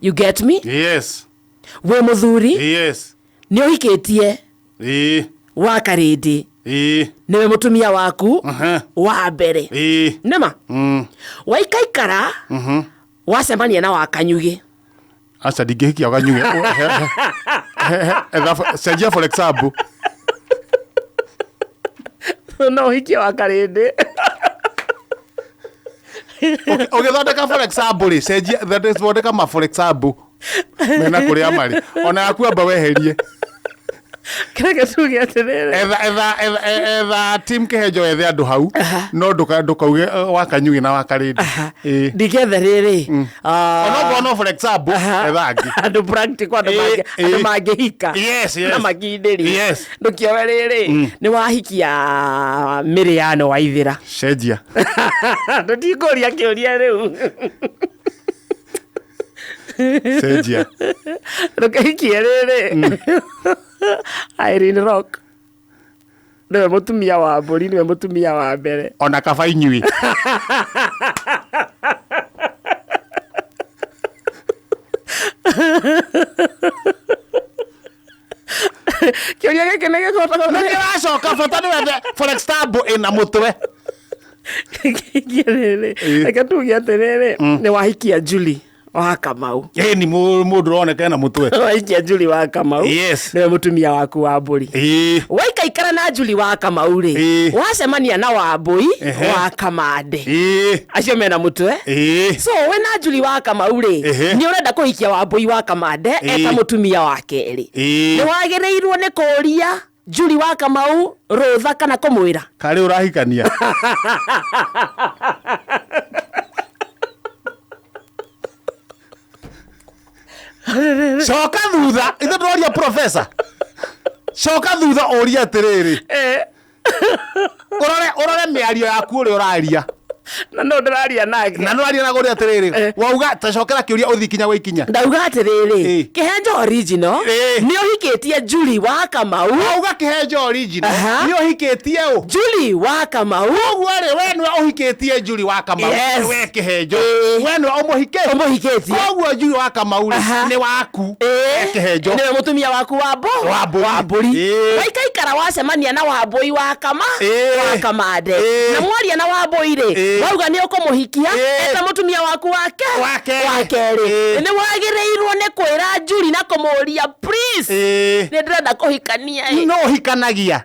you get me yes wĩ mũthuri yes nĩ ũhikĩtie ii wa karĩndĩ ii nĩwe mũtumia waku aha wa mbere ii nĩma mm waikaikara wacemania na wakanyugĩ aca ndingĩhikia ũganyuge cenjia for example no ũhikie wa karĩndĩ ũgĩthondeka for example rĩ cenjia thondeka ma for example mena kũrĩa marĩ ona yaku amba weherie kĩrĩa gĩcugi atĩrĩrĩ etha etha etha- e- etha tim kĩhenjo ethe andũ hau Aha. no ndũka- ndũkauge eh, wa kanyugĩ na wa karĩndi Aha. Ĩĩ. ndigethe rĩrĩ ah, onokorwo no for example aha. etha angĩ andå practical andå Ĩĩ, mangĩ- ĩĩ. andå mangä hika Yes, yes. na makindĩri Yes. ndå kĩoe rĩrĩ nä wahikia mä rä yano wa ithä cenjia ndå tikå ria kä å ria rä u Seja. Lo que quiere de mm. Irene Rock. Nĩwe mũtumia wa mbũri, nĩwe mũtumia wa mbere. Ona kaba inyuĩ. kĩũria gĩkĩ nĩ gĩkũragwo na kĩracoka bata nĩ wethe forex tab ĩna mũtwe kĩngĩ rĩrĩ Ĩ. reke tuge atĩrĩrĩ nĩ wahikia juli wa kamau ĩ ni mũ- mũndũ ũroneka ena mũtwe wahikia juli wa kamau Yes. nĩwe mũtumia waku wa mbũri ĩ waikaikara na juli wa kamau rĩ Ĩ. wacemania na wambũi Ehe. wa kamande ĩ acio mena mũtwe Ĩĩ. so we na njuri wa kamau rĩ Ehe. nĩ ũrenda kũhikia wambũi wa kamande Ĩĩ. eta mũtumia wa kerĩ Ĩĩ. nĩ wagĩrĩirwo nĩ kũria njuri wa kamau rũtha kana kũmwĩra karĩ ũrahikania coka thutha ithe tũroria profesa coka thutha ũria atĩrĩrĩ urore urore miario yaku uri uraria na no ndiraria nake na ndiraria na gori atiriri eh. wauga ta cokera kiuria uthi kinya gwa ikinya ndauga atiriri eh. kihenjo original eh. ni uhikitie juli wa kamau wauga kihenjo original ni uhikitie u juli wa kamau uguo ri we ni uhikitie juli wa kamau we kihenjo we ni umuhikitie umuhikitie uguo juli wa kamau ni waku Eh, Kĩhenjo. nĩwe mũtumia waku wa mbo Wa mbũri. wa mbũri Eh. waikaikara wacemania na wambũi wa kama Eh. wa kamande Eh. na mwaria na wambũi rĩ Eh. wauga nĩ ũkũmũhikia Eh. eta mũtumia waku wake Wa kerĩ. wa kerĩ Eh. nĩ wagĩrĩirwo nĩ kwĩra njuri na kũmũria please Eh, nĩ ndĩrenda kũhikania ĩ." no hikanagia